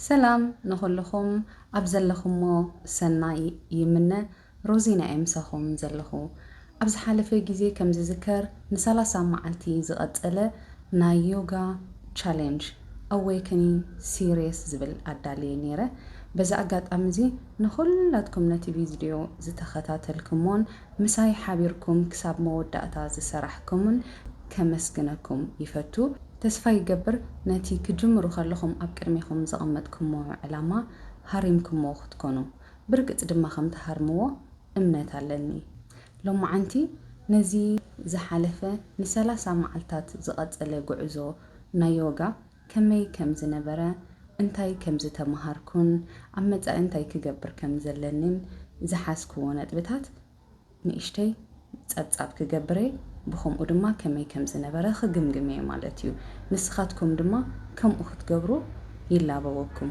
ሰላም ንኹልኹም ኣብ ዘለኹሞ ሰናይ ይምነ ሮዚና እየ ምሳኹም ዘለኹ ኣብ ዝሓለፈ ግዜ ከም ዝዝከር ን ሰላሳ መዓልቲ ዝቐጸለ ናይ ዮጋ ቻሌንጅ ኣዌክኒንግ ሲሪስ ዝብል ኣዳልየ ኔረ በዚ ኣጋጣሚ እዚ ንኹላትኩም ነቲ ቪዝድዮ ዝተኸታተልክሞን ምሳይ ሓቢርኩም ክሳብ መወዳእታ ዝሰራሕክሙን ከመስግነኩም ይፈቱ። ተስፋ ይገብር ነቲ ክጅምሩ ከለኹም ኣብ ቅድሜኹም ዘቐመጥኩሞ ዕላማ ሃሪምኩሞ ክትኮኑ። ብርግጽ ድማ ከም ትሃርምዎ እምነት ኣለኒ። ሎማዓንቲ ነዚ ዝሓለፈ ንሰላሳ መዓልታት ዝቐጸለ ጉዕዞ ናይ ዮጋ፣ ከመይ ከም ዝነበረ፣ እንታይ ከም ዝተመሃርኩን ኣብ መጻኢ እንታይ ክገብር ከም ዘለኒን ዝሓዝክዎ ነጥብታት ንእሽተይ ጸብጻብ ክገብር'የ፣ ብኸምኡ ድማ ከመይ ከም ዝነበረ ክግምግም'የ ማለት'ዩ። ንስኻትኩም ድማ ከምኡ ክትገብሩ ይላበወኩም።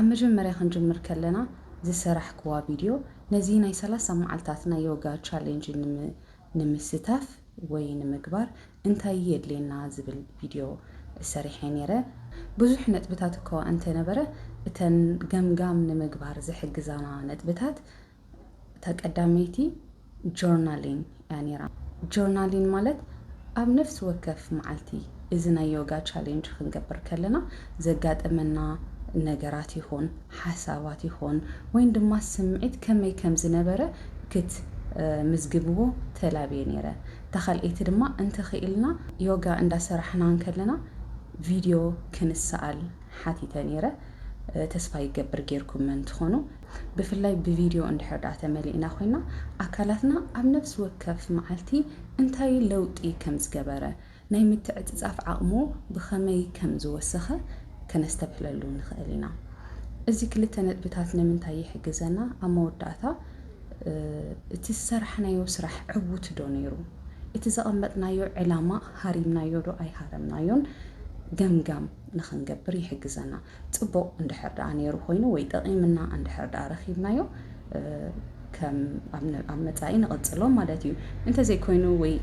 ኣብ መጀመርያ ክንጅምር ከለና ዝሰራሕክዋ ቪድዮ ነዚ ናይ ሰላሳ መዓልታት ናይ ዮጋ ቻሌንጅ ንምስታፍ ወይ ንምግባር እንታይ የድልየና ዝብል ቪድዮ ሰሪሐ ነይረ። ብዙሕ ነጥብታት እኳ እንተነበረ እተን ገምጋም ንምግባር ዝሕግዛና ነጥብታት እታ ቀዳመይቲ ጆርናሊን እያ ነይራ። ጆርናሊን ማለት ኣብ ነፍሲ ወከፍ መዓልቲ እዚ ናይ ዮጋ ቻሌንጅ ክንገብር ከለና ዘጋጠመና ነገራት ይኹን ሓሳባት ይኹን ወይን ድማ ስምዒት ከመይ ከም ዝነበረ ክት ምዝግብዎ ተላብየ ነይረ። እታ ካልኣይቲ ድማ እንተኽኢልና ዮጋ እንዳሰራሕና እንከለና ቪድዮ ክንሰኣል ሓቲተ ኔረ ተስፋ ይገብር ጌርኩመን ትኾኑ ብፍላይ ብቪድዮ እንድሕር ድኣ ተመሊእና ኮይና ኣካላትና ኣብ ነብሲ ወከፍ መዓልቲ እንታይ ለውጢ ከም ዝገበረ ናይ ምትዕጽጻፍ ዓቕሙ ብኸመይ ከም ዝወሰኸ ከነስተብህለሉ ንኽእል ኢና እዚ ክልተ ነጥብታት ንምንታይ ይሕግዘና ኣብ መወዳእታ እቲ ዝሰራሕናዮ ስራሕ ዕውት ዶ ኔሩ እቲ ዘቐመጥናዮ ዕላማ ሃሪምናዮ ዶ ኣይሃረምናዮን ገምጋም ንኽንገብር ይሕግዘና። ጽቡቕ እንድሕር ደኣ ነይሩ ኮይኑ ወይ ጠቒምና እንድሕር ደኣ ረኺብናዮ ከም ኣብ መጻኢ ንቕጽሎ ማለት እዩ። እንተዘይኮይኑ ወይ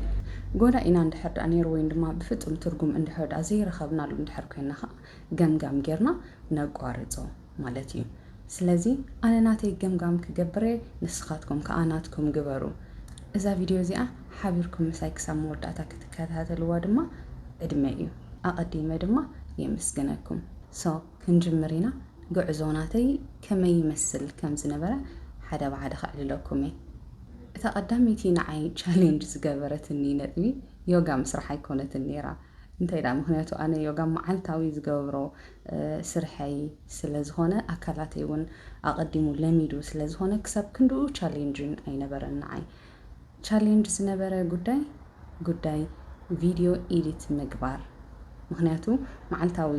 ጎዳኢና እንድሕር ደኣ ነይሩ ወይን ድማ ብፍጹም ትርጉም እንድሕር ደኣ ዘይረኸብናሉ እንድሕር ኮይንና ከኣ ገምጋም ጌርና ነቋርጾ። ማለት እዩ ስለዚ ኣነ ናተይ ገምጋም ክገብር እየ ንስኻትኩም ከኣ ናትኩም ግበሩ እዛ ቪድዮ እዚኣ ሓቢርኩም ምሳይ ክሳብ መወዳእታ ክትከታተልዋ ድማ ዕድመይ እዩ ኣቐዲመ ድማ የመስግነኩም ሶ ክንጅምር ኢና ጉዕዞ ናተይ ከመይ ይመስል ከም ዝነበረ ሓደ ብሓደ ከዕልለኩም እየ እታ ቀዳመይቲ ንዓይ ቻሌንጅ ዝገበረትኒ ነጥቢ ዮጋ ምስራሕ ኣይኮነትን ነይራ እንተይ ደኣ ምክንያቱ ኣነ ዮጋ መዓልታዊ ዝገብሮ ስርሐይ ስለ ዝኮነ ኣካላተይ ውን ኣቀዲሙ ለሚዱ ስለ ዝኮነ ክሳብ ክንድኡ ቻሌንጂን ኣይነበረን ንዓይ ቻሌንጅ ዝነበረ ጉዳይ ጉዳይ ቪድዮ ኢዲት ምግባር ምክንያቱ መዓልታዊ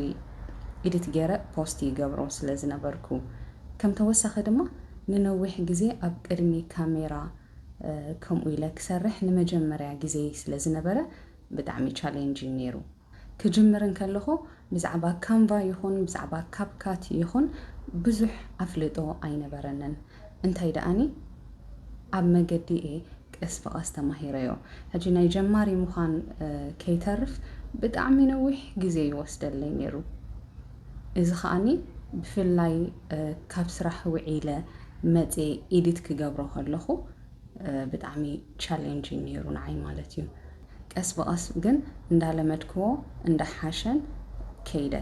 ኢዲት ጌረ ፖስት ይገብሮ ስለ ዝነበርኩ ከም ተወሳኪ ድማ ንነዊሕ ግዜ ኣብ ቅድሚ ካሜራ ከምኡ ኢለ ክሰርሕ ንመጀመርያ ግዜይ ስለ ዝነበረ ብጣዕሚ ቻሌንጅ እዩ ኔሩ ክጅምር እንከለኹ ብዛዕባ ካንቫ ይኹን ብዛዕባ ካፕካት ይኹን ብዙሕ ኣፍልጦ ኣይነበረንን እንታይ ደኣኒ ኣብ መገዲ እየ ቀስ ብቐስ ተማሂረዮ ሕጂ ናይ ጀማሪ ምዃን ከይተርፍ ብጣዕሚ ነዊሕ ግዜ ይወስደለይ ኔሩ እዚ ከኣኒ ብፍላይ ካብ ስራሕ ውዒለ መጼ ኢዲት ክገብሮ ከለኹ ብጣዕሚ ቻሌንጂንግ ነይሩ ንዓይ ማለት እዩ። ቀስ ብቐስ ግን እንዳለመድክዎ እንዳሓሸን ከይደ።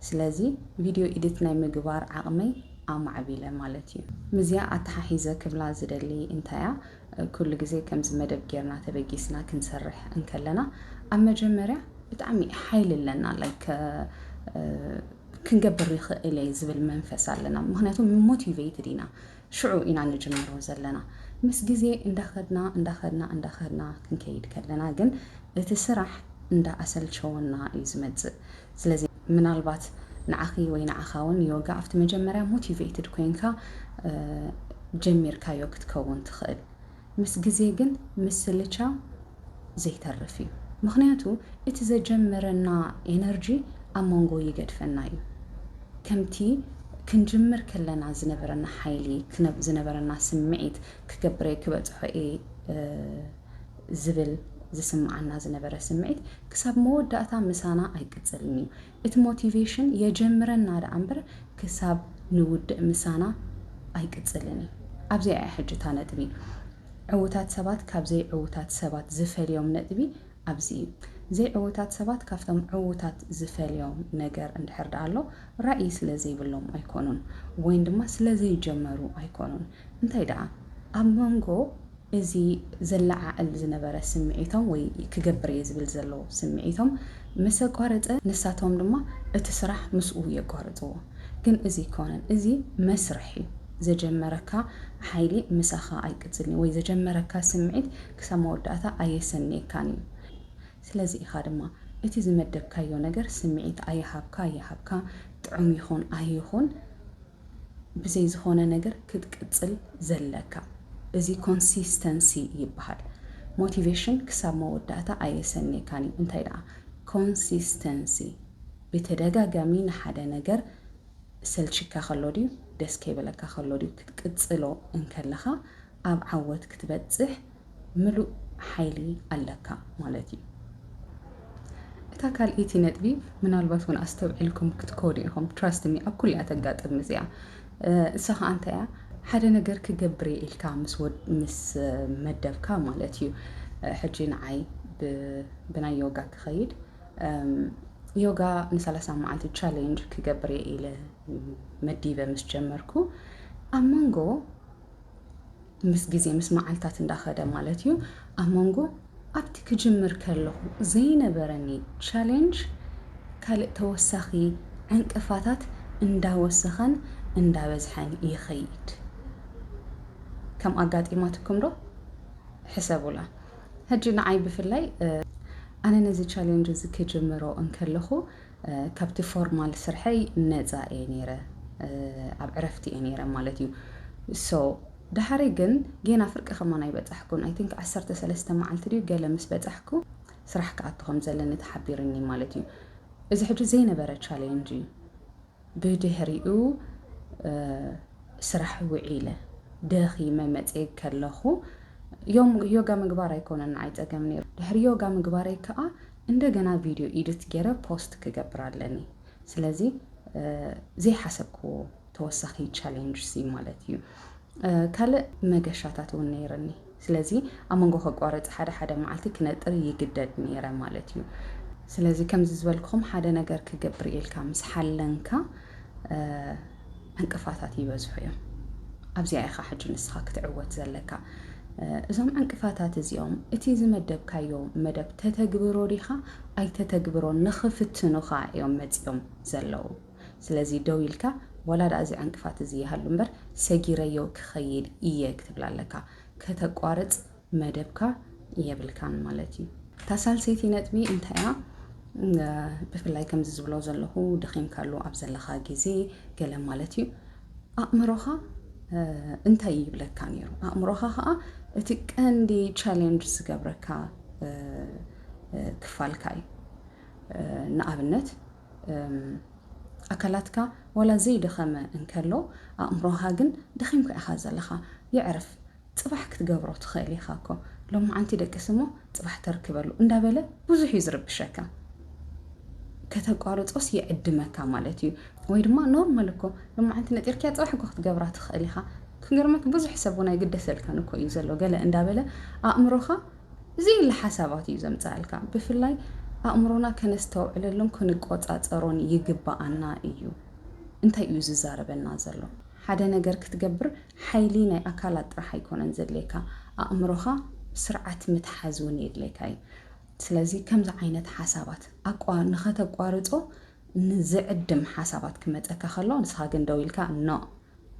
ስለዚ ቪድዮ ኢድት ናይ ምግባር ዓቕመይ ኣማዕቢለ ማለት እዩ። ምስዚኣ ኣተሓሒዘ ክብላ ዝደሊ እንታያ ኩሉ ግዜ ከምዚ መደብ ጌርና ተበጊስና ክንሰርሕ እንከለና ኣብ መጀመርያ ብጣዕሚ ሓይሊ ኣለና ላይክ ክንገብር ይኽእል እየ ዝብል መንፈስ ኣለና ምክንያቱ ሞቲቬትድ ኢና ሽዑ ኢና ንጅምሮ ዘለና ምስ ግዜ እንዳኸድና እንዳኸድና እንዳኸድና ክንከይድ ከለና ግን እቲ ስራሕ እንዳ ኣሰልቸወና እዩ ዝመጽእ ስለዚ ምናልባት ንዓኺ ወይ ንዓኻ ውን ዮጋ ኣብቲ መጀመርያ ሞቲቬትድ ኮይንካ ጀሚርካዮ ክትከውን ትኽእል ምስ ግዜ ግን ምስልቻው ዘይተርፍ እዩ ምኽንያቱ እቲ ዘጀመረና ኤነርጂ ኣብ መንጎ ይገድፈና እዩ ከምቲ ክንጅምር ከለና ዝነበረና ሓይሊ ዝነበረና ስምዒት ክገብረይ ክበጽሖ እየ ዝብል ዝስምዓና ዝነበረ ስምዒት ክሳብ መወዳእታ ምሳና ኣይቅጽልን እዩ እቲ ሞቲቬሽን የጀምረና ደኣ እምበር ክሳብ ንውድእ ምሳና ኣይቅጽልን እዩ። ኣብዚኣ እያ ሕጂ እታ ነጥቢ። ዕዉታት ሰባት ካብ ዘይዕዉታት ሰባት ዝፈልዮም ነጥቢ ኣብዚ እዩ። ዘይዕዉታት ሰባት ካብቶም ዕዉታት ዝፈልዮም ነገር እንድሕር ደኣ ኣሎ ራኢ ስለ ዘይብሎም ኣይኮኑን ወይን ድማ ስለ ዘይጀመሩ ኣይኮኑን። እንታይ ደኣ ኣብ መንጎ እዚ ዘለዓዕል ዝነበረ ስምዒቶም ወይ ክገብር እየ ዝብል ዘሎ ስምዒቶም ምስ ኣቋረጸ ንሳቶም ድማ እቲ ስራሕ ምስኡ የቋርጽዎ። ግን እዚ ኣይኮነን እዚ መስርሕ እዩ። ዘጀመረካ ሓይሊ ምሳኻ ኣይቅጽልን እዩ ወይ ዘጀመረካ ስምዒት ክሳብ መወዳእታ ኣየሰንየካን እዩ። ስለዚ ኢኻ ድማ እቲ ዝመደብካዮ ነገር ስምዒት ኣይሃብካ ኣይሃብካ ጥዑም ይኹን ኣይኹን፣ ብዘይ ዝኾነ ነገር ክትቅጽል ዘለካ እዚ ኮንሲስተንሲ ይበሃል ሞቲቬሽን ክሳብ መወዳእታ ኣየሰንየካን እዩ እንታይ ደኣ ኮንሲስተንሲ ብተደጋጋሚ ንሓደ ነገር ሰልቺካ ከሎ ድዩ ደስ ከይበለካ ከሎ ድዩ ክትቅጽሎ እንከለኻ ኣብ ዓወት ክትበጽሕ ምሉእ ሓይሊ ኣለካ ማለት እዩ። እታ ካልኣይቲ ነጥቢ ምናልባት እውን ኣስተውዒልኩም ክትኮኑ ኢኹም ትራስት ሚ ኣብ ኩላ ተጋጥም እዚኣ እሳ ከዓ እንታይ እያ ሓደ ነገር ክገብር እየ ኢልካ ምስ መደብካ ማለት እዩ ሕጂ ንዓይ ብናይ ዮጋ ክኸይድ ዮጋ ንሰላሳ መዓልቲ ቻሌንጅ ክገብር እየ ኢለ መዲበ ምስ ጀመርኩ ኣብ መንጎ ምስ ግዜ ምስ መዓልታት እንዳኸደ ማለት እዩ ኣብ መንጎ ኣብቲ ክጅምር ከለኹ ዘይነበረኒ ቻሌንጅ ካልእ ተወሳኺ ዕንቅፋታት እንዳወሰኸን እንዳበዝሐን ይኸይድ። ከም ኣጋጢማትኩም ዶ? ሕሰቡላ። ሕጂ ንዓይ ብፍላይ ኣነ ነዚ ቻሌንጅ እዚ ክጅምሮ እንከለኹ ካብቲ ፎርማል ስርሐይ ነጻ እየ ነይረ ኣብ ዕረፍቲ እየ ነይረ ማለት እዩ ሶ ደሃሪ ግን ጌና ፍርቂ ከማን ኣይበጻሕኩን ኣይ ቲንክ ዓሰርተ ሰለስተ መዓልቲ ድዩ ገለ ምስ በጻሕኩ ስራሕ ክኣቱ ከም ዘለኒ ተሓቢርኒ ማለት እዩ እዚ ሕጂ ዘይነበረ ቻሌንጅ እዩ ብድሕሪኡ ስራሕ ውዒለ ደኺመ መጽየ ከለኹ ዮም ዮጋ ምግባር ኣይኮነን ንዓይ ጸገም ነይሩ ድሕሪ ዮጋ ምግባረይ ከዓ እንደገና ቪድዮ ኢድት ገይረ ፖስት ክገብር ኣለኒ ስለዚ ዘይሓሰብክዎ ተወሳኺ ቻሌንጅ ሲ ማለት እዩ ካልእ መገሻታት እውን ነይርኒ ስለዚ ኣብ መንጎ ከቋርፅ ሓደ ሓደ መዓልቲ ክነጥር ይግደድ ነይረ ማለት እዩ ስለዚ ከምዚ ዝበልኩም ሓደ ነገር ክገብር ኢልካ ምስ ሓለንካ ዕንቅፋታት ይበዝሑ እዮም። ኣብዚኣ ኢኻ ሕጂ ንስኻ ክትዕወት ዘለካ። እዞም ዕንቅፋታት እዚኦም እቲ ዝመደብካዮ መደብ ተተግብሮ ዲኻ ኣይተተግብሮን ንኽፍትኑኻ እዮም መጺኦም ዘለዉ። ስለዚ ደው ኢልካ ወላ ደኣ እዚ ዕንቅፋት እዚ ይሃሉ እምበር ሰጊረዮ ክኸይድ እየ ክትብል ኣለካ። ከተቋርጽ መደብካ የብልካን ማለት እዩ። እታ ሳልሰይቲ ነጥቢ እንታይ እያ? ብፍላይ ከምዚ ዝብሎ ዘለኹ ደኺምካሉ ኣብ ዘለኻ ግዜ ገለ ማለት እዩ ኣእምሮኻ እንታይ ይብለካ ነይሩ? ኣእምሮኻ ከዓ እቲ ቀንዲ ቻሌንጅ ዝገብረካ ክፋልካ እዩ። ንኣብነት ኣካላትካ ዋላ ዘይደኸመ እንከሎ ኣእምሮኻ ግን ደኺምካ ኢኻ ዘለኻ የዕርፍ ጽባሕ ክትገብሮ ትኽእል ኢኻ እኮ ሎምዓንቲ ደቅስ እሞ ጽባሕ ተርክበሉ እንዳበለ ብዙሕ እዩ ዝርብሸካ ከተቋርጾስ ይዕድመካ ማለት እዩ ወይ ድማ ኖርማል እኮ ሎምዓንቲ ነጢርክያ ጽባሕ እኮ ክትገብራ ትኽእል ኢኻ ክገርመክ ብዙሕ ሰብ እውን ኣይግደሰልካን እኮ እዩ ዘሎ ገለ እንዳበለ ኣእምሮኻ ዘይለ ሓሳባት እዩ ዘምጽኣልካ ብፍላይ ኣእምሮና ከነስተውዕለሉን ክንቆጻጸሮን ይግባኣና እዩ እንታይ እዩ ዝዛረበና ዘሎ ሓደ ነገር ክትገብር ሓይሊ ናይ ኣካላት ጥራሕ ኣይኮነን ዘድልየካ ኣእምሮኻ ስርዓት ምትሓዝ ውን የድልየካ ዩ ስለዚ ከምዚ ዓይነት ሓሳባት ኣቋ ንኸተቋርጾ ዝዕድም ሓሳባት ክመጸካ ከሎ ንስኻ ግን ደው ኢልካ ኖእ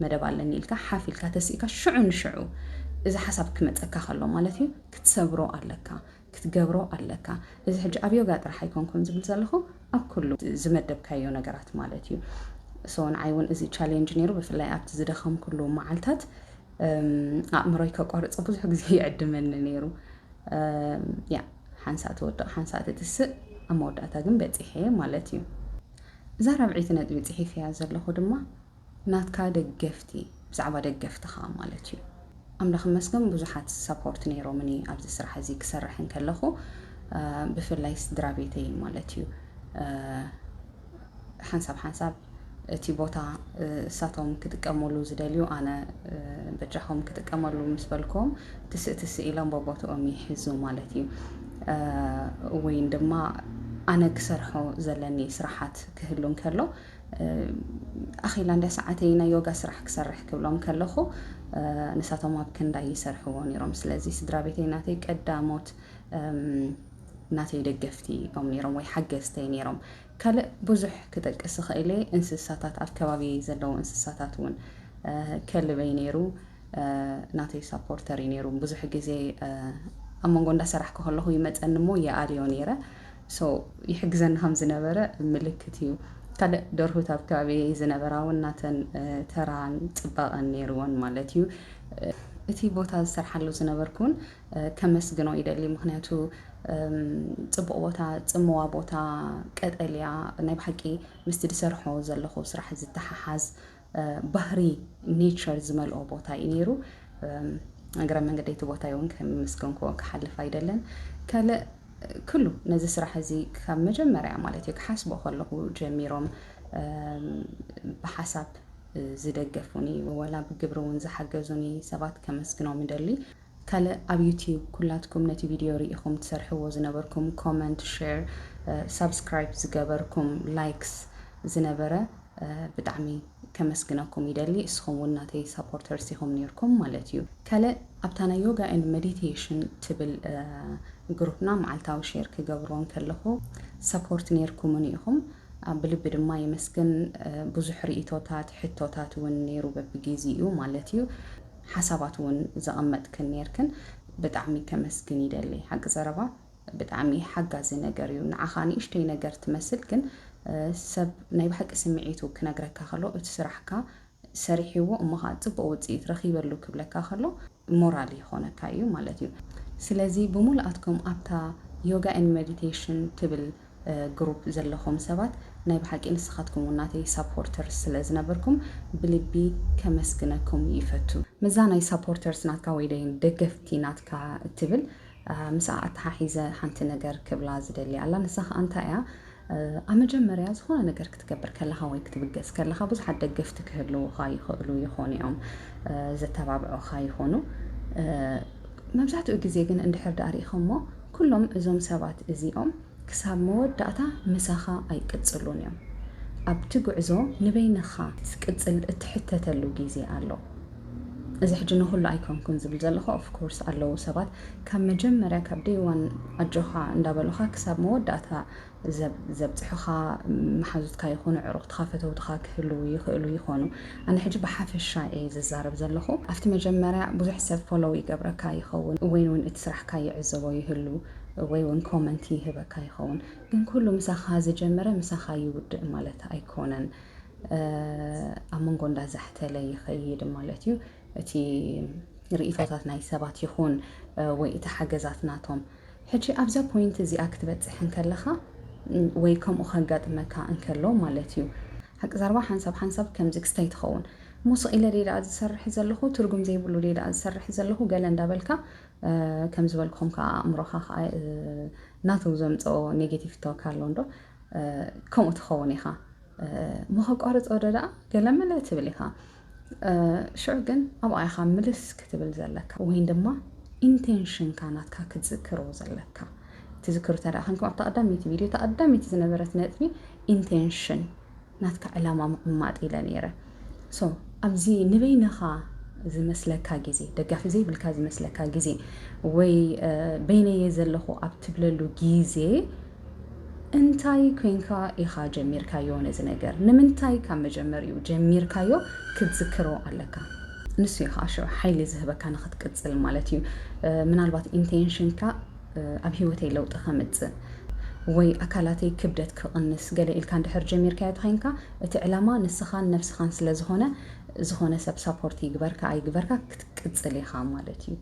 መደብ ኣለኒ ኢልካ ሓፍ ኢልካ ተሲእካ ሽዑ ንሽዑ እዚ ሓሳብ ክመጸካ ከሎ ማለት ዩ ክትሰብሮ ኣለካ ክትገብሮ ኣለካ እዚ ሕጂ ኣብ ዮጋ ጥራሕ ኣይኮንኩን ዝብል ዘለኹ ኣብ ኩሉ ዝመደብካዮ ነገራት ማለት እዩ ሶ ንዓይ እውን እዚ ቻሌንጅ ነይሩ ብፍላይ ኣብቲ ዝደኸምኩሉ መዓልታት ኣእምሮይ ከቋርፆ ብዙሕ ግዜ ይዕድመኒ ነይሩ ያ ሓንሳእ ትወድቕ ሓንሳእ ትትስእ ኣብ መወዳእታ ግን በፂሐ ማለት እዩ እዛ ራብዒይቲ ነጥቢ ፅሒፍ እያ ዘለኹ ድማ ናትካ ደገፍቲ ብዛዕባ ደገፍትኻ ማለት እዩ ኣምላኽ ይመስገን ብዙሓት ሳፖርት ነይሮምኒ ኣብዚ ስራሕ እዚ ክሰርሕ እንከለኹ ብፍላይ ስድራ ቤተይ ማለት እዩ ሓንሳብ ሓንሳብ እቲ ቦታ እሳቶም ክጥቀመሉ ዝደልዩ ኣነ በጃኹም ክጥቀመሉ ምስ በልኩም ትስእ ትስእ ኢሎም በቦትኦም ይሕዙ ማለት እዩ ወይን ድማ ኣነ ክሰርሖ ዘለኒ ስራሓት ክህሉ እንከሎ ኣኼላ እንዳ ሰዓተይ ናይ ዮጋ ስራሕ ክሰርሕ ክብሎም ከለኹ ንሳቶም ኣብ ክንዳይ ይሰርሕዎ ነይሮም። ስለዚ ስድራ ቤተይ ናተይ ቀዳሞት ናተይ ደገፍቲ እዮም ነይሮም ወይ ሓገዝተይ ነይሮም። ካልእ ብዙሕ ክጠቅስ እኽእል እየ እንስሳታት ኣብ ከባቢየይ ዘለዉ እንስሳታት እውን ከልበይ ነይሩ ናተይ ሳፖርተር እዩ ነይሩ። ብዙሕ ግዜ ኣብ መንጎ እንዳ ሰራሕኩ ከለኹ ይመጸኒ እሞ ይኣልዮ ነይረ። so ይሕግዘና ከም ዝነበረ ምልክት እዩ። ካልእ ደርሁት ኣብ ከባቢየይ ዝነበራ እውን ናተን ተራን ፅባቐን ነይርወን ማለት እዩ። እቲ ቦታ ዝሰርሓሉ ዝነበርኩ እውን ከመስግኖ ይደሊ ምኽንያቱ ፅቡቕ ቦታ፣ ፅምዋ ቦታ፣ ቀጠልያ ናይ ብሓቂ ምስቲ ዝሰርሖ ዘለኹ ስራሕ ዝተሓሓዝ፣ ባህሪ ኔቸር ዝመልኦ ቦታ እዩ ነይሩ። እግረ መንገደይ እቲ ቦታ እውን ከምስገንክዎ ክሓልፍ ኣይደለን ካልእ ክሉ ነዚ ስራሕ እዚ ካብ መጀመርያ ማለት እዩ ክሓስቦ ከለኹ ጀሚሮም ብሓሳብ ዝደገፉኒ ወላ ብግብሪ እውን ዝሓገዙኒ ሰባት ከመስግኖም ይደሊ። ካልእ ኣብ ዩቲዩብ ኩላትኩም ነቲ ቪድዮ ሪኢኹም ትሰርሕዎ ዝነበርኩም ኮመንት ሼር ሳብስክራይብ ዝገበርኩም ላይክስ ዝነበረ ብጣዕሚ ከመስግነኩም ይደሊ እስኹም ውን ናተይ ሳፖርተርስ ኢኹም ኔርኩም ማለት እዩ ካልእ ኣብታ ናይ ዮጋ ኤንድ ሜዲቴሽን ትብል ግሩፕና መዓልታዊ ሼር ክገብሮ እንከለኹ ሰፖርት ኔርኩምኒ ኢኹም ብልቢ ድማ የመስግን ብዙሕ ርኢቶታት ሕቶታት ውን ኔሩ በብጊዚኡ ማለት እዩ ሓሳባት ውን ዘቐመጥክን ኔርክን ብጣዕሚ ከመስግን ይደሊ ሓቂ ዘረባ ብጣዕሚ ሓጋዚ ነገር እዩ ንዓኻ ንእሽተይ ነገር ትመስል ግን ሰብ ናይ ብሓቂ ስምዒቱ ክነግረካ ከሎ እቲ ስራሕካ ሰሪሒዎ እሞ ኸኣ ጽቡቕ ውጽኢት ረኺበሉ ክብለካ ከሎ ሞራል ይኾነካ እዩ ማለት እዩ ስለዚ ብሙሉኣትኩም ኣብታ Yoga and Meditation ትብል ግሩፕ ዘለኹም ሰባት ናይ ብሓቂ ንስኻትኩም ውን ናተይ ሳፖርተርስ ስለ ዝነበርኩም ብልቢ ከመስግነኩም ይፈቱ። ምስዛ ናይ ሳፖርተርስ ናትካ ወይ ደይን ደገፍቲ ናትካ እትብል ምስኣ ኣተሓሒዘ ሓንቲ ነገር ክብላ ዝደሊ ኣላ ንሳ ከኣ እንታይ ኢያ ኣብ መጀመርያ ዝኾነ ነገር ክትገብር ከለኻ ወይ ክትብገስ ከለኻ ብዙሓት ደገፍቲ ክህልውኻ ይኽእሉ ይኾኑ ኢዮም ዘተባብዑኻ ይኾኑ መብዛሕትኡ ግዜ ግን እንድሕር ደኣ ሪኢኸሞ ኵሎም እዞም ሰባት እዚኦም ክሳብ መወዳእታ ምሳኻ ኣይቅጽሉን እዮም። ኣብቲ ጕዕዞ ንበይንኻ ክትቅጽል እትሕተተሉ ግዜ ኣሎ። እዚ ሕጂ ንዅሉ ኣይኰንኩን ዝብል ዘለኹ፣ of course ኣለዉ ሰባት ካብ መጀመርያ ካብ day one ኣጆኻ እንዳበሉኻ ክሳብ መወዳእታ ዘብጽሑኻ መሓዙትካ ይኹኑ ኣዕሩኽትኻ ፈተውትኻ ክህልዉ ይኽእሉ ይኾኑ። ኣነ ሕጂ ብሓፈሻ እየ ዝዛረብ ዘለኹ። ኣብቲ መጀመርያ ብዙሕ ሰብ ፎሎው ይገብረካ ይኸውን ወይ ውን እቲ ስራሕካ ይዕዘቦ ይህሉ ወይ ውን ኮመንት ይህበካ ይኸውን። ግን ኩሉ ምሳኻ ዝጀመረ ምሳኻ ይውድእ ማለት ኣይኮነን። ኣብ መንጎ እንዳዛሕተለ ይኸይድ ማለት እዩ። እቲ ርኢቶታት ናይ ሰባት ይኹን ወይ እቲ ሓገዛት ናቶም ሕጂ ኣብዛ ፖይንት እዚኣ ክትበጽሕ እንከለኻ ወይ ከምኡ ከጋጥመካ እንከሎ ማለት እዩ ሓቂ ዛርባ ሓንሳብ ሓንሳብ ከምዚ ክስታይ ትኸውን እሞ ስቕ ኢለ ደይ ደኣ ዝሰርሕ ዘለኹ ትርጉም ዘይብሉ ደይ ደኣ ዝሰርሕ ዘለኹ ገለ እንዳበልካ ከም ዝበልኩም ከዓ ኣእምሮኻ ከዓ ናቱ ዘምፀኦ ኔጌቲቭ ቶክ ኣሎ እንዶ ከምኡ ትኸውን ኢኻ እሞ ከቋርፆ ዶ ደኣ ገለመለ ትብል ኢኻ ሽዑ ግን ኣብኣ ኢኻ ምልስ ክትብል ዘለካ ወይን ድማ ኢንቴንሽንካ ናትካ ክትዝክሮ ዘለካ ትዝክሩ እንተ ደኣ ኮንኩም ኣብታ ቀዳመይቲ ቪድዮ እታ ቀዳመይቲ ዝነበረት ነጥቢ ኢንቴንሽን ናትካ ዕላማ ምቕማጥ ኢለ ነይረ ሶ ኣብዚ ንበይንኻ ዝመስለካ ግዜ ደጋፊ ዘይብልካ ዝመስለካ ግዜ ወይ በይነየ ዘለኹ ኣብ ትብለሉ ግዜ እንታይ ኮይንካ ኢኻ ጀሚርካዮ ነዚ ነገር ንምንታይ ካብ መጀመሪኡ ጀሚርካዮ ክትዝክሮ ኣለካ ንሱ እዩ ከዓ ሽዑ ሓይሊ ዝህበካ ንክትቅፅል ማለት እዩ ምናልባት ኢንቴንሽንካ ኣብ ሂወተይ ለውጢ ከምፅእ ወይ ኣካላተይ ክብደት ክቕንስ ገለ ኢልካ እንድሕር ጀሚርካዮ ተኸይንካ እቲ ዕላማ ንስኻን ነብስኻን ስለ ዝኾነ ዝኾነ ሰብ ሳፖርት ይግበርካ ኣይግበርካ ክትቅፅል ኢኻ ማለት እዩ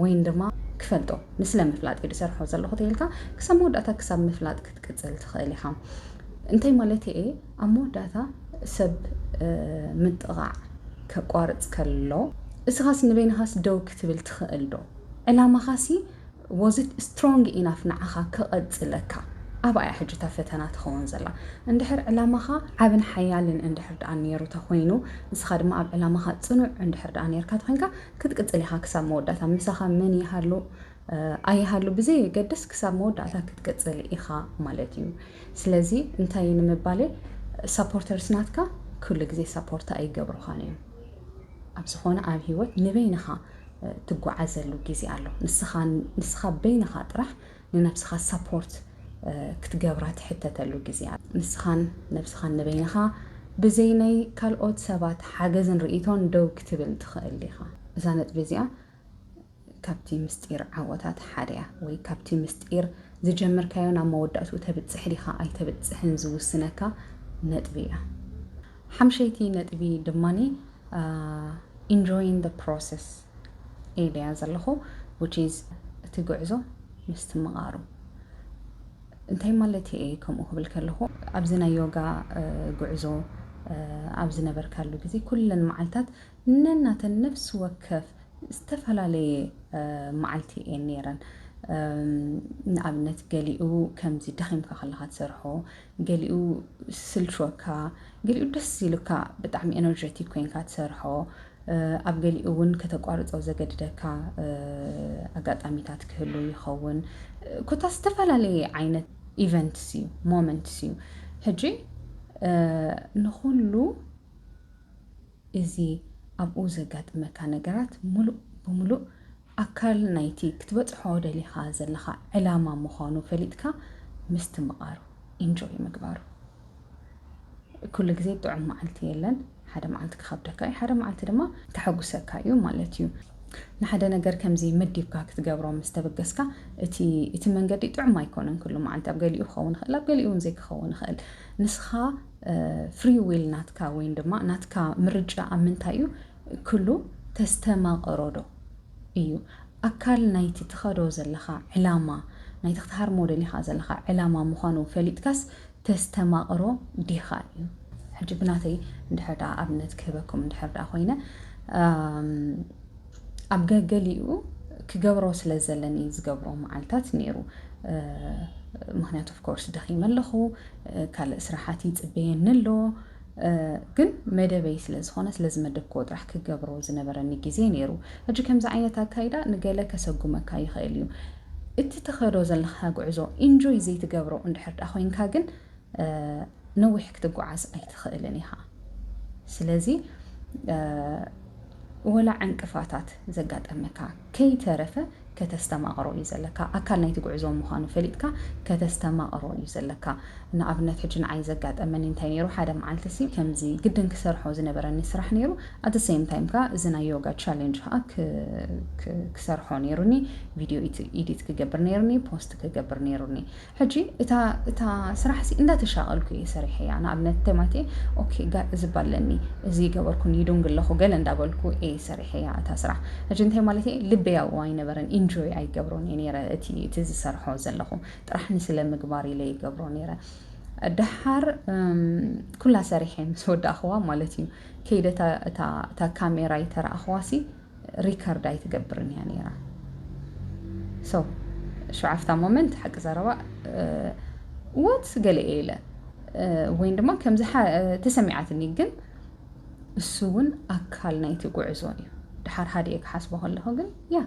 ወይን ድማ ክፈልጦ ንስለ ምፍላጥ እዩ ዝሰርሖ ዘለኹ ተይልካ ክሳብ መወዳእታ ክሳብ ምፍላጥ ክትቅፅል ትኽእል ኢኻ እንታይ ማለት እየ ኣብ መወዳእታ ሰብ ምጥቓዕ ከቋርፅ ከሎ እስኻስ ንበይንኻስ ደው ክትብል ትኽእል ዶ ዕላማኻሲ ወዝት ስትሮንግ ኢናፍ ንዓኻ ክቐፅለካ ኣብኣ እያ ሕጂ እታ ፈተና ትኸውን ዘላ እንድሕር ዕላማኻ ዓብን ሓያልን እንድሕር ደኣ ነይሩ ተኮይኑ ንስኻ ድማ ኣብ ዕላማኻ ፅኑዕ እንድሕር ደኣ ነርካ ተኮይንካ ክትቅጽል ኢኻ ክሳብ መወዳእታ ምሳኻ መን ይሃሉ ኣይሃሉ ብዘየገድስ ክሳብ መወዳእታ ክትቅጽል ኢኻ ማለት እዩ ስለዚ እንታይ ንምባል ሳፖርተርስ ናትካ ኩሉ ግዜ ሳፖርት ኣይገብሩኻን እዮም ኣብ ዝኾነ ኣብ ሂወት ንበይንኻ ትጓዓዘሉ ግዜ ኣሎ ንስኻ በይንኻ ጥራሕ ንነብስኻ ሰፖርት ክትገብራ ትሕተተሉ ግዜ ኣሎ። ንስኻን ነብስኻን ንበይንኻ ብዘይ ናይ ካልኦት ሰባት ሓገዝን ርእይቶን ደው ክትብል ትኽእል ኢኻ። እዛ ነጥቢ እዚኣ ካብቲ ምስጢር ዓወታት ሓደ እያ። ወይ ካብቲ ምስጢር ዝጀመርካዮ ናብ መወዳእትኡ ተብጽሕ ዲኻ ኣይተብጽሕን ዝውስነካ ነጥቢ እያ። ሓምሸይቲ ነጥቢ ድማ ኢንጆይን ዘ ፕሮሰስ። ኢለያ ዘለኹ which is እቲ ጉዕዞ ምስትምቓሩ እንታይ ማለት እየ ከምኡ ክብል ከለኹ ኣብዚ ናይ ዮጋ ጉዕዞ ኣብ ዝነበርካሉ ግዜ ኩለን መዓልታት ነናተን ነፍሲ ወከፍ ዝተፈላለየ መዓልቲ እየን ነይረን ንኣብነት ገሊኡ ከምዚ ደኺምካ ከለካ ትሰርሖ ገሊኡ ስልችወካ ገሊኡ ደስ ኢሉካ ብጣዕሚ ኤነርጀቲክ ኮይንካ ትሰርሖ ኣብ ገሊኡ እውን ከተቋርፆ ዘገድደካ ኣጋጣሚታት ክህሉ ይኸውን ኮታ ዝተፈላለየ ዓይነት ኢቨንትስ እዩ ሞመንትስ እዩ ሕጂ ንኹሉ እዚ ኣብኡ ዘጋጥመካ ነገራት ምሉእ ብምሉእ ኣካል ናይቲ ክትበጽሖ ደሊኻ ዘለኻ ዕላማ ምዃኑ ፈሊጥካ ምስትምቓሩ፣ Enjoy ምግባሩ። ኩሉ ግዜ ጥዑም መዓልቲ የለን፣ ሓደ መዓልቲ ክኸብደካ እዩ፣ ሓደ መዓልቲ ድማ ከሐጉሰካ እዩ ማለት እዩ። ንሓደ ነገር ከምዚ መዲብካ ክትገብሮ ምስ ተበገስካ፣ እቲ እቲ መንገዲ ጥዑም ኣይኮነን ኩሉ መዓልቲ፣ ኣብ ገሊኡ ክኸውን ይኽእል፣ ኣብ ገሊኡ እውን ዘይክኸውን ይኽእል። ንስኻ ፍሪዊል ናትካ ወይን ድማ ናትካ ምርጫ ኣብ ምንታይ እዩ ክሉ ተስተማቐሮዶ እዩ ኣካል ናይቲ ትኸዶ ዘለኻ ዕላማ ናይቲ ክትሃርሞ ደሊኻ ዘለኻ ዕላማ ምዃኑ ፈሊጥካስ ተስተማቕሮ ዲኻ እዩ ሕጂ ብናተይ እንድሕር ደኣ ኣብነት ክህበኩም እንድሕር ደኣ ኮይነ ኣብ ገገሊኡ ክገብሮ ስለ ዘለኒ ዝገብሮ መዓልታት ነይሩ ምክንያቱ ኦፍኮርስ ደኺመ ኣለኹ ካልእ ስራሓት ይፅበየኒ ኣሎ ግን መደበይ ስለ ዝኾነ ስለ ዝመደብክዎ ጥራሕ ክገብሮ ዝነበረኒ ግዜ ነይሩ ሕጂ ከምዚ ዓይነት ኣካይዳ ንገለ ከሰጉመካ ይኽእል እዩ እቲ ተኸዶ ዘለካ ጉዕዞ ኢንጆይ ዘይትገብሮ እንድሕር ዳ ኮይንካ ግን ነዊሕ ክትጓዓዝ ኣይትኽእልን ኢኻ። ስለዚ ወላ ዕንቅፋታት ዘጋጠመካ ከይተረፈ ከተስተማቕሮ እዩ ዘለካ። ኣካል ናይቲ ጉዕዞ ምዃኑ ፈሊጥካ ከተስተማቕሮ እዩ ዘለካ። ንኣብነት ሕጂ ንዓይ ዘጋጠመኒ እንታይ ነይሩ፣ ሓደ መዓልቲሲ ከምዚ ግድን ክሰርሖ ዝነበረኒ ስራሕ ነይሩ፣ ኣት ሴም ታይም ከኣ እዚ ናይ ዮጋ ቻሌንጅ ከኣ ክሰርሖ ነይሩኒ፣ ቪድዮ ኢዲት ክገብር ነይሩኒ፣ ፖስት ክገብር ነይሩኒ። ሕጂ እታ እታ ስራሕሲ እንዳተሻቐልኩ እየ ሰሪሐያ ንኣብነት ቴማቴ ኦኬ ጋእ እዝብ ኣለኒ እዚ ገበርኩ ንይዱንግ ኣለኹ ገለ እንዳበልኩ እየ ሰሪሐያ እታ ስራሕ ሕጂ እንታይ ማለት እየ ልበይ ኣብኡ ኣይነበረን ኢንጆይ ኣይገብሮን እየ ነይረ እቲ እቲ ዝሰርሖ ዘለኹ ጥራሕ ንስለ ምግባር ኢለ ይገብሮ ነይረ ደሓር ኩላ ሰሪሐ ምስ ወዳእኽዋ ማለት እዩ ከይደ እታ እታ ካሜራ ይተራእኽዋሲ ሪከርድ ኣይትገብርን እያ ነይራ ሰው ሸዓፍታ ሞመንት ሓቂ ዘረባ ወት ገለ እየ ኢለ ወይን ድማ ከምዚ ተሰሚዓትኒ ግን እሱ እውን ኣካል ናይቲ ጉዕዞ እዩ ድሓር ሓደ እየ ክሓስቦ ከለኹ ግን ያ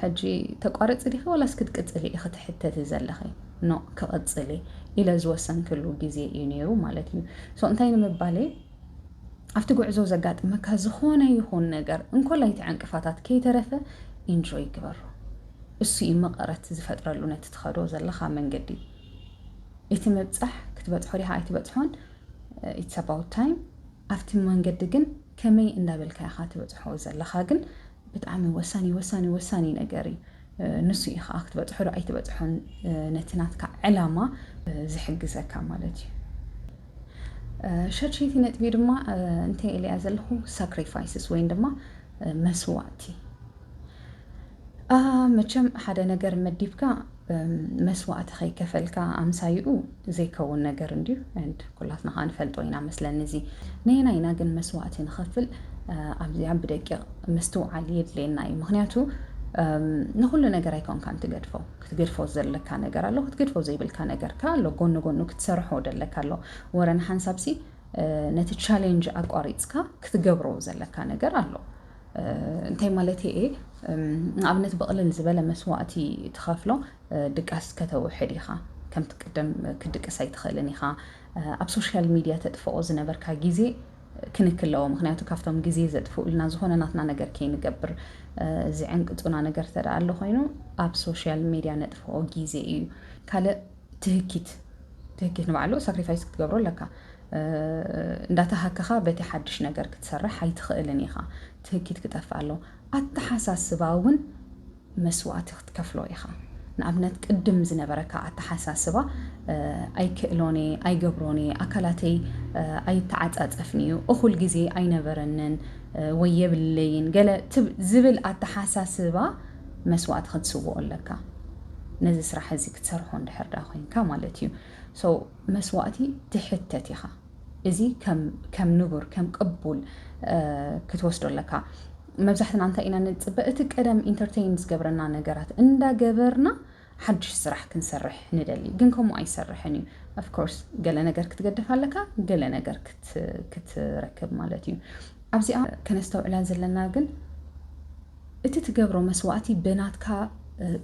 ሕጂ ተቋረፂ ዲኺ ዋላስ ክትቅፅሊ ኢኺ ትሕተቲ ዘለኺ ኖ ክቕፅል ኢለ ዝወሰንክሉ ግዜ እዩ ነይሩ ማለት እዩ ሶ እንታይ ንምባለይ ኣብቲ ጉዕዞ ዘጋጥመካ ዝኾነ ይኹን ነገር እንኮላይቲ ዕንቅፋታት ከይተረፈ ኢንጆይ ግበሮ እሱ እዩ መቐረት ዝፈጥረሉ ነቲ ትኸዶ ዘለኻ መንገዲ እቲ ምብጻሕ ክትበጽሖ ዲኻ ኣይትበጽሖን ኢትስ ኣባውት ታይም ኣብቲ መንገዲ ግን ከመይ እንዳበልካ ኢኻ ትበጽሖ ዘለኻ ግን ብጣዕሚ ወሳኒ ወሳኒ ወሳኒ ነገር እዩ ንሱ እዩ ከዓ ክትበፅሖ ዶ ኣይትበፅሖን ነቲ ናትካ ዕላማ ዝሕግዘካ ማለት እዩ ሸድሸይቲ ነጥቢ ድማ እንታይ ኢለያ ዘለኹ ሳክሪፋይስስ ወይም ድማ መስዋእቲ መቸም ሓደ ነገር መዲብካ መስዋእቲ ከይከፈልካ ኣምሳይኡ ዘይከውን ነገር እንድዩ and ኩላትና ከኣ ንፈልጦ ኢና መስለኒ እዚ ነየናይ ኢና ግን መስዋእቲ ንኸፍል ኣብዚኣ ብደቂቕ ምስትውዓል የድልየና እዩ ምክንያቱ ንኩሉ ነገር ኣይኮንካን ትገድፎ ክትገድፎ ዘለካ ነገር ኣሎ ክትገድፎ ዘይብልካ ነገር ከ ኣሎ ጎኒ ጎኑ ክትሰርሖ ደለካ ኣሎ ወረ ንሓንሳብሲ ነቲ ቻሌንጅ ኣቋሪፅካ ክትገብሮ ዘለካ ነገር ኣሎ እንታይ ማለት እየ ንኣብነት ብቕልል ዝበለ መስዋእቲ ትኸፍሎ ድቃስ ከተውሕድ ኢኻ ከምቲ ቅደም ክትድቅስ ኣይትኽእልን ኢኻ ኣብ ሶሻል ሚድያ ተጥፍኦ ዝነበርካ ግዜ ክንክ ኣለዎ ምክንያቱ ካብቶም ግዜ ዘጥፍኡልና ዝኾነ ናትና ነገር ከይንገብር ዝዕንቅፁና ነገር ተደኣ ኣሎ ኮይኑ ኣብ ሶሻል ሚድያ ነጥፍኦ ግዜ እዩ ካልእ ትህኪት ትህኪት ንባዕሉ ሳክሪፋይስ ክትገብሮ ኣለካ እንዳተሃከኻ በቲ ሓድሽ ነገር ክትሰርሕ ኣይትኽእልን ኢኻ ትህኪት ክጠፍእ ኣሎ ኣተሓሳስባ እውን መስዋእቲ ክትከፍሎ ኢኻ። ንኣብነት ቅድም ዝነበረካ ኣተሓሳስባ ኣይክእሎን'የ፣ ኣይገብሮን'የ፣ ኣካላተይ ኣይተዓጻጸፍን'ዩ፣ እኹል ግዜ ኣይነበረንን ወይ የብለይን ገለ ዝብል ኣተሓሳስባ መስዋእቲ ክትስውኦ ኣለካ። ነዚ ስራሕ እዚ ክትሰርሖ እንድሕር ደኣ ኮይንካ ማለት እዩ። ሶ መስዋእቲ ትሕተት ኢኻ። እዚ ከም ከም ንቡር ከም ቅቡል ክትወስዶ ኣለካ። መብዛሕትና እንታይ ኢና ንጽበ እቲ ቀደም ኢንተርቴይን ዝገብረና ነገራት እንዳገበርና ሓድሽ ስራሕ ክንሰርሕ ንደሊ፣ ግን ከምኡ ኣይሰርሕን እዩ። ኣፍኮርስ ገለ ነገር ክትገደፍ ኣለካ፣ ገለ ነገር ክትረክብ ማለት እዩ። ኣብዚኣ ከነስተውዕላ ዘለና ግን እቲ ትገብሮ መስዋእቲ በናትካ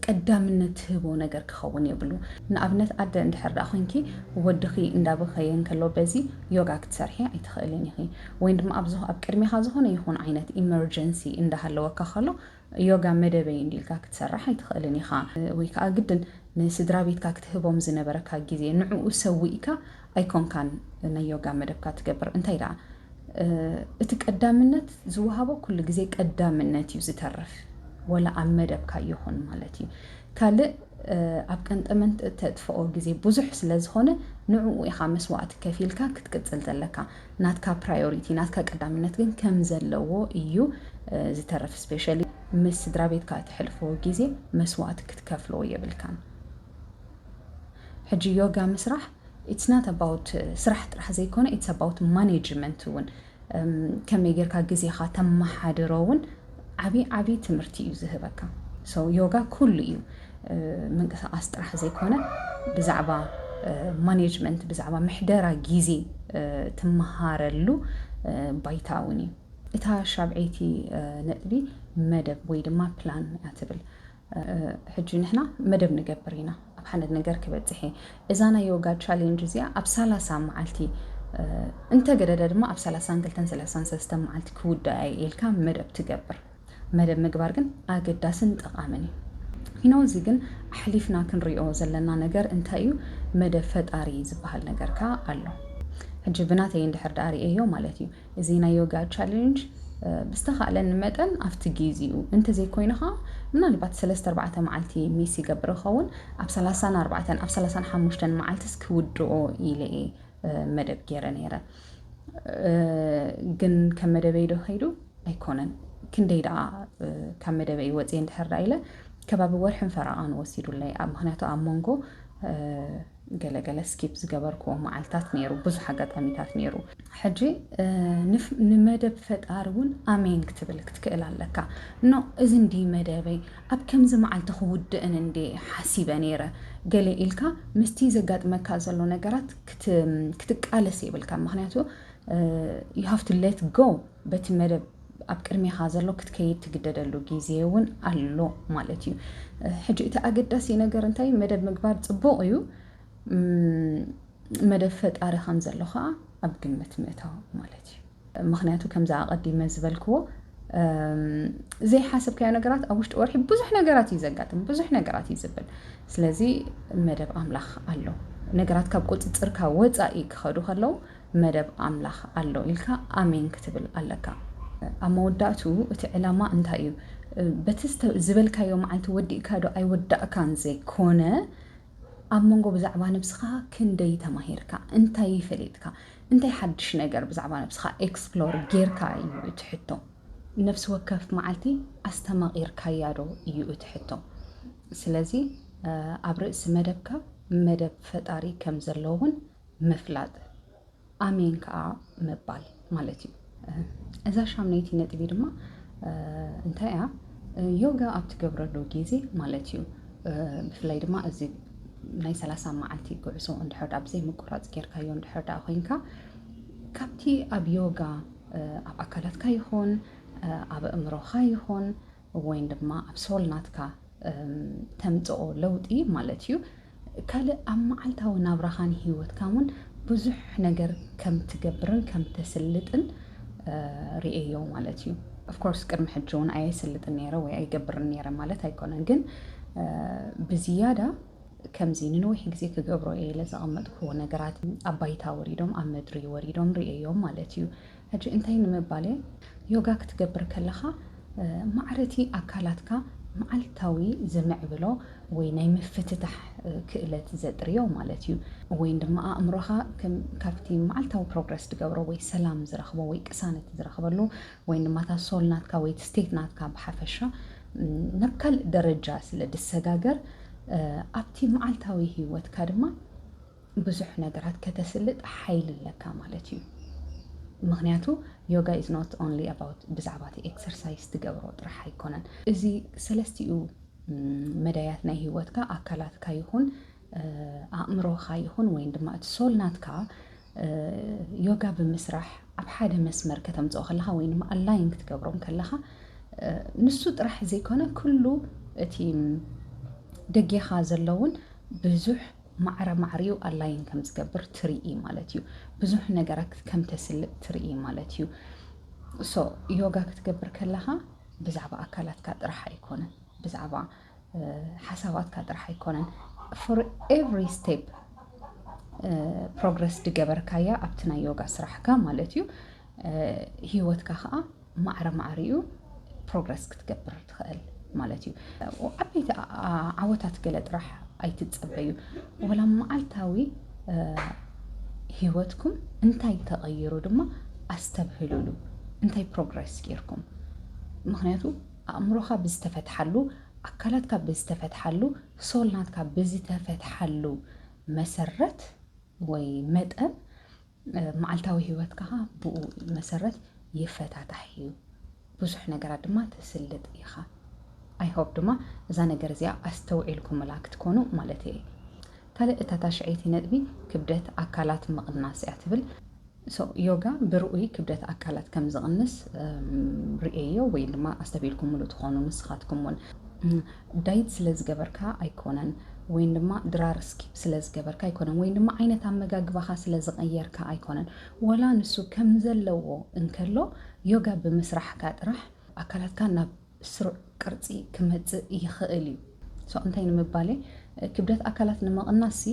ቀዳምነት ትህቦ ነገር ክኸውን የብሉ። ንኣብነት ኣደ እንድሕር ደኣ ኮንኪ ወድኺ እንዳበኸየ እንከሎ በዚ ዮጋ ክትሰርሒ ኣይትኽእልን ኢኺ። ወይን ድማ ኣብ ኣብ ቅድሜኻ ዝኾነ ይኹን ዓይነት ኢመርጀንሲ እንዳሃለወካ ከሎ ዮጋ መደበይ እንድዩ ኢልካ ክትሰርሕ ኣይትኽእልን ኢኻ። ወይ ከኣ ግድን ንስድራቤትካ ክትህቦም ዝነበረካ ግዜ ንዕኡ ሰዊእካ ኣይኮንካን ናይ ዮጋ መደብካ ትገብር እንታይ ደኣ እቲ ቀዳምነት ዝወሃቦ ኩሉ ግዜ ቀዳምነት እዩ ዝተርፍ ወላ ኣብ መደብካ ይኹን ማለት እዩ ካልእ ኣብ ቀንጠመንት እተጥፍኦ ግዜ ብዙሕ ስለ ዝኾነ ንዕኡ ኢኻ መስዋእቲ ከፊልካ ክትቅፅል ዘለካ ናትካ ፕራዮሪቲ ናትካ ቀዳምነት ግን ከም ዘለዎ እዩ ዝተረፍ ስፔሻሊ ምስ ስድራ ቤትካ እተሕልፎ ግዜ መስዋእቲ ክትከፍሎ የብልካን ሕጂ ዮጋ ምስራሕ ኢትስ ናት ኣባውት ስራሕ ጥራሕ ዘይኮነ ኢትስ ኣባውት ማኔጅመንት እውን ከመይ ጌርካ ግዜኻ ተመሓድሮ እውን ዓብዪ ዓብዪ ትምህርቲ እዩ ዝህበካ ሰው ዮጋ ኩሉ እዩ ምንቅስቓስ ጥራሕ ዘይኮነ ብዛዕባ ማኔጅመንት ብዛዕባ ምሕደራ ግዜ ትመሃረሉ ባይታ እውን እዩ እታ ሻብዐይቲ ነጥቢ መደብ ወይ ድማ ፕላን እያ ትብል ሕጂ ንሕና መደብ ንገብር ኢና ኣብ ሓንድ ነገር ክበጽሕ እየ እዛ ናይ ዮጋ ቻሌንጅ እዚኣ ኣብ ሰላሳ መዓልቲ እንተገደደ ድማ ኣብ ሰላሳን ክልተን ሰላሳን ሰለስተን መዓልቲ ክውዳእ እየ ኢልካ መደብ ትገብር መደብ ምግባር ግን ኣገዳስን ጠቓምን እዩ ኪኖ እዚ ግን ኣሕሊፍና ክንሪኦ ዘለና ነገር እንታይ እዩ መደብ ፈጣሪ ዝበሃል ነገር ከዓ ኣሎ ሕጂ ብናተይ እንድሕር ደኣ ርእየዮ ማለት እዩ እዚ ናይ ዮጋ ቻሌንጅ ብዝተኻእለኒ መጠን ኣብቲ ጊዚኡ እንተዘይኮይኑ ኸኣ ምናልባት ሰለስተ ኣርባዕተ መዓልቲ ሚስ ይገብር እኸውን ኣብ ሰላሳን ኣርባዕተን ኣብ ሰላሳን ሓሙሽተን መዓልትስ ክውድኦ ኢለ እየ መደብ ገይረ ነይረ ግን ከም መደበይ ዶ ከይዱ ኣይኮነን ክንደይ ደኣ ካብ መደበይ ወፅየ እንድሕር ዳ ኢለ ከባቢ ወርሕን ፈረቓን ወሲዱለይ ኣብ ምክንያቱ ኣብ መንጎ ገለ ገለ ስኪፕ ዝገበርክዎ መዓልታት ነይሩ፣ ብዙሕ ኣጋጣሚታት ነይሩ። ሕጂ ንመደብ ፈጣሪ እውን ኣሜን ክትብል ክትክእል ኣለካ። ን እዚ እንድዩ መደበይ፣ ኣብ ከምዚ መዓልቲ ክውድእን እንድየ ሓሲበ ነይረ ገለ ኢልካ ምስቲ ዘጋጥመካ ዘሎ ነገራት ክትቃለስ የብልካን። ምኽንያቱ ዩ ሃቭ ቱ ሌት ጎ በቲ መደብ ኣብ ቅድሜኻ ዘሎ ክትከይድ ትግደደሉ ግዜ እውን ኣሎ ማለት እዩ ሕጂ እቲ ኣገዳሲ ነገር እንታይ መደብ ምግባር ፅቡቕ እዩ መደብ ፈጣሪ ከም ዘሎ ከዓ ኣብ ግምት ምእታው ማለት እዩ ምክንያቱ ከምዛ ኣቐዲመ ዝበልክዎ ዘይሓሰብካዮ ነገራት ኣብ ውሽጢ ወርሒ ብዙሕ ነገራት እዩ ዘጋጥም ብዙሕ ነገራት እዩ ዝብል ስለዚ መደብ ኣምላኽ ኣሎ ነገራት ካብ ቁፅፅርካ ወፃኢ ክኸዱ ከለዉ መደብ ኣምላኽ ኣሎ ኢልካ ኣሜን ክትብል ኣለካ። ኣብ መወዳእትኡ እቲ ዕላማ እንታይ እዩ? በቲ ዝበልካዮ መዓልቲ ወዲእካ ዶ ኣይወዳእካን ዘይኮነ ኣብ መንጎ ብዛዕባ ነብስኻ ክንደይ ተማሂርካ፣ እንታይ ፈሊጥካ፣ እንታይ ሓድሽ ነገር ብዛዕባ ነብስኻ ኤክስፕሎር ጌርካ እዩ እቲ ሕቶ። ነፍሲ ወከፍ መዓልቲ ኣስተማቒርካያ ዶ እዩ እቲ ሕቶ። ስለዚ ኣብ ርእሲ መደብካ መደብ ፈጣሪ ከም ዘሎ እውን ምፍላጥ ኣሜን ከኣ ምባል ማለት እዩ እዛ ሻምነይቲ ነጥቢ ድማ እንታይ እያ ዮጋ ኣብ ትገብረሉ ግዜ ማለት እዩ ብፍላይ ድማ እዚ ናይ ሰላሳ መዓልቲ ጉዕዞ እንድሕር ዳ ብዘይ ምቁራፅ ጌርካዮ እንድሕር ዳ ኮይንካ ካብቲ ኣብ ዮጋ ኣብ ኣካላትካ ይኹን ኣብ ኣእምሮኻ ይኹን ወይን ድማ ኣብ ሶል ናትካ ተምጽኦ ለውጢ ማለት እዩ ካልእ ኣብ መዓልታዊ ናብራኻን ሂወትካን እውን ብዙሕ ነገር ከም ትገብርን ከም ተስልጥን ርእዮ ማለት እዩ ኦፍኮርስ ቅድሚ ሕጂ እውን ኣየስልጥን ነይረ ወይ ኣይገብርን ነይረ ማለት ኣይኮነን ግን ብዝያዳ ከምዚ ንነዊሕ ግዜ ክገብሮ እየ ኢለ ዘቐመጥኩዎ ነገራት ኣብ ባይታ ወሪዶም ኣብ ምድሪ ወሪዶም ርእዮም ማለት እዩ ሕጂ እንታይ ንምባል እየ ዮጋ ክትገብር ከለኻ ማዕረ እቲ ኣካላትካ መዓልታዊ ዝምዕብሎ ወይ ናይ ምፍትታሕ ክእለት ዘጥርዮ ማለት እዩ ወይን ድማ ኣእምሮኻ ከም ካብቲ መዓልታዊ ፕሮግረስ ዝገብሮ ወይ ሰላም ዝረኽቦ ወይ ቅሳነት ዝረኽበሉ ወይን ድማ እታ ሶል ናትካ ወይ እቲ ስቴት ናትካ ብሓፈሻ ናብ ካልእ ደረጃ ስለ ድሰጋገር ኣብቲ መዓልታዊ ህይወትካ ድማ ብዙሕ ነገራት ከተስልጥ ሓይሊ ኣለካ ማለት እዩ ምክንያቱ ዮጋ ኢዝ ኖት ኦንሊ ኣባውት ብዛዕባ እቲ ኤክሰርሳይዝ ትገብሮ ጥራሕ ኣይኮነን እዚ ሰለስቲኡ መዳያት ናይ ሂወትካ ኣካላትካ ይኹን ኣእምሮኻ ይኹን ወይን ድማ እቲ ሶል ናትካ ዮጋ ብምስራሕ ኣብ ሓደ መስመር ከተምፅኦ ከለኻ ወይ ድማ ኣላይን ክትገብሮም ከለኻ ንሱ ጥራሕ ዘይኮነ ኩሉ እቲ ደጌኻ ዘለውን ብዙሕ ማዕረ ማዕሪኡ ኣላይን ከም ዝገብር ትርኢ ማለት እዩ። ብዙሕ ነገራት ከም ተስልጥ ትርኢ ማለት እዩ። ሶ ዮጋ ክትገብር ከለኻ ብዛዕባ ኣካላትካ ጥራሕ ኣይኮነን፣ ብዛዕባ ሓሳባትካ ጥራሕ ኣይኮነን። ፎር ኤቭሪ ስቴፕ ፕሮግረስ ድገበርካያ ኣብቲ ናይ ዮጋ ስራሕካ ማለት እዩ ሂወትካ ከኣ ማዕረ ማዕረ እዩ ፕሮግረስ ክትገብር ትኽእል ማለት እዩ። ዓበይቲ ዓወታት ገለ ጥራሕ ኣይትጸበዩ ወላ መዓልታዊ ሂወትኩም እንታይ ተቐይሩ ድማ ኣስተብህሉሉ እንታይ ፕሮግረስ ጌርኩም ምኽንያቱ ኣእምሮኻ ብዝተፈትሓሉ ኣካላትካ ብዝተፈትሓሉ ሶል ናትካ ብዝተፈትሓሉ መሰረት ወይ መጠን መዓልታዊ ሂወትካ ከኣ ብኡ መሰረት ይፈታታሕ እዩ። ብዙሕ ነገራት ድማ ትስልጥ ኢኻ። ኣይ ሆፕ ድማ እዛ ነገር እዚኣ ኣስተውዒልኩምላ ክትኮኑ ማለተይ እየ። ካልእ እታ ታሽዐይቲ ነጥቢ ክብደት ኣካላት ምቕናስ እያ ትብል። ሶ ዮጋ ብርኡይ ክብደት ኣካላት ከም ዝቕንስ ርእየዮ ወይ ድማ ኣስተብሂልኩምሉ ትኾኑ ንስኻትኩም ውን። ዳይት ስለ ዝገበርካ ኣይኮነን ወይን ድማ ድራር ስኪፕ ስለ ዝገበርካ ኣይኮነን ወይን ድማ ዓይነት ኣመጋግባኻ ስለ ዝቐየርካ ኣይኮነን ወላ ንሱ ከም ዘለዎ እንከሎ ዮጋ ብምስራሕካ ጥራሕ ኣካላትካ ናብ ስሩዕ ቅርጺ ክመጽእ ይኽእል እዩ ሶ እንታይ ንምባለይ ክብደት ኣካላት ንምቕናስሲ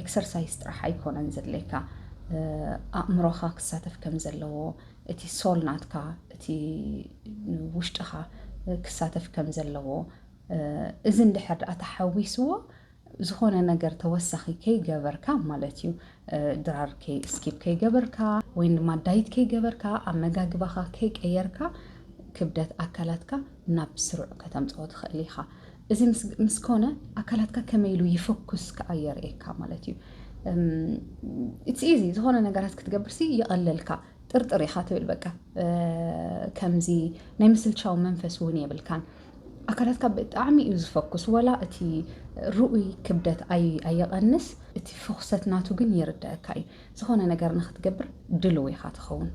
ኤክሰርሳይዝ ጥራሕ ኣይኮነን ዘድለየካ ኣእምሮኻ ክሳተፍ ከም ዘለዎ እቲ ሶል ናትካ እቲ ውሽጥኻ ክሳተፍ ከም ዘለዎ እዚ እንድሕር ድኣ ተሓዊስዎ ዝኾነ ነገር ተወሳኺ ከይገበርካ ማለት እዩ ድራር ስኪፕ ከይገበርካ ወይ ድማ ዳይት ከይገበርካ ኣመጋግባኻ ከይቀየርካ ክብደት ኣካላትካ ናብ ስሩዕ ከተምፅኦ ትኽእል ኢኻ እዚ ምስ ኮነ ኣካላትካ ከመይ ኢሉ ይፈኩስ ከኣ የርእየካ ማለት እዩ። ኢትስ ኢዚ ዝኾነ ነገራት ክትገብርሲ ይቐለልካ ጥርጥር ኢኻ ትብል በቃ ከምዚ ናይ ምስልቻው መንፈስ እውን የብልካን። ኣካላትካ ብጣዕሚ እዩ ዝፈኩስ ወላ እቲ ርኡይ ክብደት ኣይቐንስ እቲ ፍኩሰት ናቱ ግን ይርዳእካ እዩ ዝኾነ ነገር ንኽትገብር ድልው ኢኻ ትኸውን።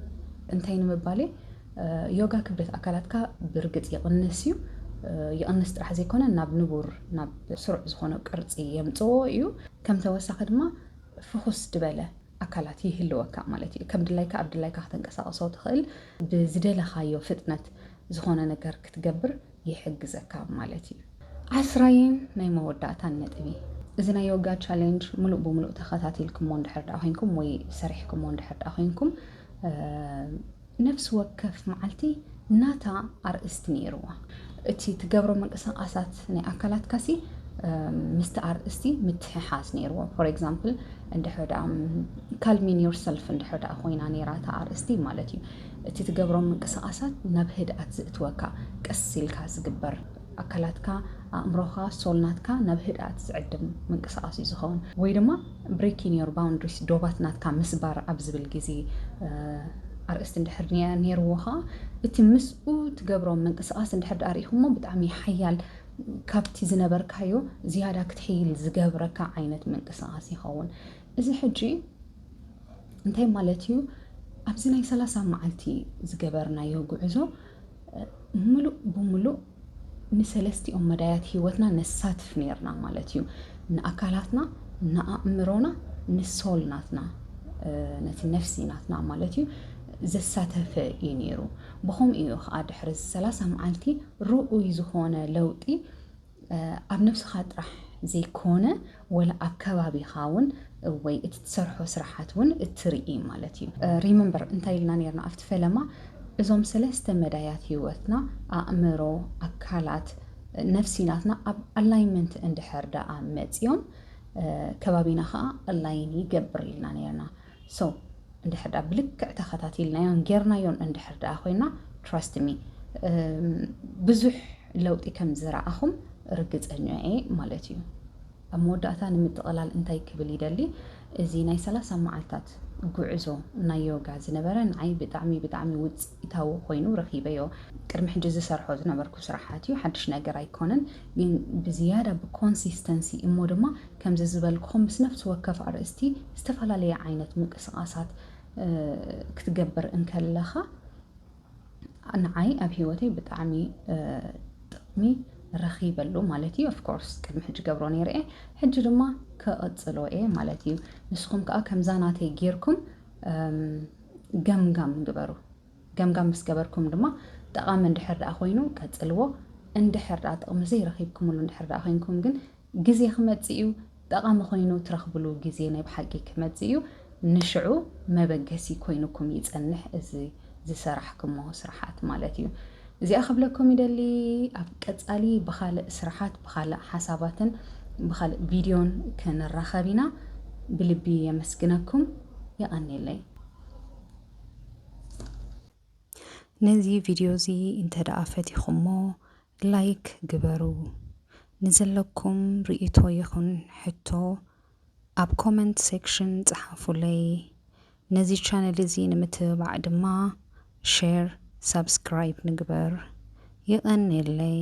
እንታይ ንምባል'የ፣ ዮጋ ክብደት ኣካላትካ ብርግጽ ይቕንስ እዩ፣ ይቕንስ ጥራሕ ዘይኮነ ናብ ንቡር ናብ ስሩዕ ዝኾነ ቅርጺ የምጽኦ እዩ፣ ከም ተወሳኺ ድማ ፍኹስ ድበለ ኣካላት ይህልወካ ማለት እዩ፣ ከም ድላይካ ኣብ ድላይካ ከተንቀሳቕሶ ትኽእል፣ ብዝደለኻዮ ፍጥነት ዝኾነ ነገር ክትገብር ይሕግዘካ ማለት እዩ። ዓስራይን ናይ መወዳእታን ነጥቢ፣ እዚ ናይ ዮጋ ቻሌንጅ ምሉእ ብምሉእ ተኸታቲልኩሞ እንድሕር ደኣ ኮይንኩም ወይ ሰሪሕኩሞ እንድሕር ደኣ ኮይንኩም ነፍሲ ወከፍ መዓልቲ ናታ ኣርእስቲ ነይርዋ። እቲ ትገብሮ ምንቅስቓሳት ናይ ኣካላትካሲ ምስቲ ኣርእስቲ ምትሕሓዝ ነይርዎ። ፎር ኤግዛምፕል እንድሕር ደኣ ካልሚን ዮርሰልፍ እንድሕር ደኣ ኮይና ነይራ እታ ኣርእስቲ ማለት እዩ። እቲ ትገብሮም ምንቅስቓሳት ናብ ህድኣት ዝእትወካ፣ ቀስ ኢልካ ዝግበር፣ ኣካላትካ፣ ኣእምሮኻ፣ ሶል ናትካ ናብ ህድኣት ዝዕድም ምንቅስቓስ'ዩ ዝኸውን። ወይ ድማ Breaking Your Boundaries፣ ዶባት ናትካ ምስባር ኣብ ዝብል ግዜ ኣርእስቲ እንድሕር ኔርዎ ከኣ እቲ ምስኡ ትገብሮም ምንቅስቓስ እንድሕር ደኣ ርኢኹሞ ብጣዕሚ ሓያል ካብቲ ዝነበርካዮ ዝያዳ ክትሕይል ዝገብረካ ዓይነት ምንቅስቓስ ይኸውን። እዚ ሕጂ እንታይ ማለት እዩ? ኣብዚ ናይ ሰላሳ መዓልቲ ዝገበርናዮ ጉዕዞ ምሉእ ብምሉእ ንሰለስቲኦም መዳያት ህይወትና ነሳትፍ ነርና ማለት እዩ። ንኣካላትና፣ ንኣእምሮና፣ ንሶል ናትና ነቲ ነፍሲ ናትና ማለት እዩ ዘሳተፈ እዩ ነይሩ። ብኸምኡ እዩ ከዓ ድሕሪ ሰላሳ መዓልቲ ርኡይ ዝኾነ ለውጢ ኣብ ነብስኻ ጥራሕ ዘይኮነ ወላ ኣብ ከባቢኻ ውን ወይ እቲ ትሰርሖ ስራሓት ውን እትርኢ ማለት እዩ። Remember እንታይ ኢልና ኔርና ኣብቲ ፈለማ እዞም ሰለስተ መዳያት ሂወትና ኣእምሮ፣ ኣካላት፣ ነፍሲ ናትና ኣብ ኣላይመንት እንድሕር ደኣ መጽዮም ከባቢና ከኣ ኣላይን ይገብር ኢልና ኔርና። So እንድሕር ድኣ ብልክዕ ተኸታቲልናዮን ጌርናዮን እንድሕር ድኣ ኮይና ትራስት ሚ ብዙሕ ለውጢ ከም ዝረኣኹም ርግፀኛ እየ ማለት እዩ። ኣብ መወዳእታ ንምጥቕላል እንታይ ክብል ይደሊ እዚ ናይ ሰላሳ መዓልታት ጉዕዞ ናይ ዮጋ ዝነበረ ንዓይ ብጣዕሚ ብጣዕሚ ውፅኢታዊ ኮይኑ ረኺበዮ ቅድሚ ሕጂ ዝሰርሖ ዝነበርኩ ስራሓት እዩ ሓድሽ ነገር ኣይኮነን ግን ብዝያዳ ብኮንሲስተንሲ እሞ ድማ ከምዚ ዝበልክኹም ምስ ነፍሲ ወከፍ ኣርእስቲ ዝተፈላለየ ዓይነት ምንቅስቓሳት ክትገብር እንከለኻ ንዓይ ኣብ ሂወተይ ብጣዕሚ ጥቕሚ ረኺበሉ ማለት እዩ ኦፍኮርስ ቅድሚ ሕጂ ገብሮ ነይረ እየ ሕጂ ድማ ክቕጽሎ እየ ማለት እዩ ንስኹም ከዓ ከምዛ ናተይ ጌርኩም ገምጋም ግበሩ ገምጋም ምስ ገበርኩም ድማ ጠቓሚ እንድሕር ደኣ ኮይኑ ቀጽልዎ እንድሕር ደኣ ጥቕሚ ዘይረኺብኩምሉ እንድሕር ደኣ ኮይንኩም ግን ግዜ ክመጽእ እዩ ጠቓሚ ኮይኑ ትረኽብሉ ግዜ ናይ ብሓቂ ክመጽእ እዩ ንሽዑ መበገሲ ኮይኑኩም ይጸንሕ እዚ ዝሰራሕክሞ ስራሓት ማለት እዩ እዚኣ ክብለኩም ይደሊ ኣብ ቀጻሊ ብኻልእ ስራሓት ብኻልእ ሓሳባትን ብኻልእ ቪድዮን ክንራኸብ ኢና ብልቢ የመስግነኩም የቐኔለይ ነዚ ቪድዮ እዚ እንተ ደኣ ፈቲኹሞ ላይክ ግበሩ ንዘለኩም ሪኢቶ ይኩን ሕቶ ኣብ ኮመንት ሴክሽን ጸሓፉለይ ነዚ ቻነል እዚ ንምትብባዕ ድማ ሼር ሳብስክራይብ ንግበር የቀኔለይ።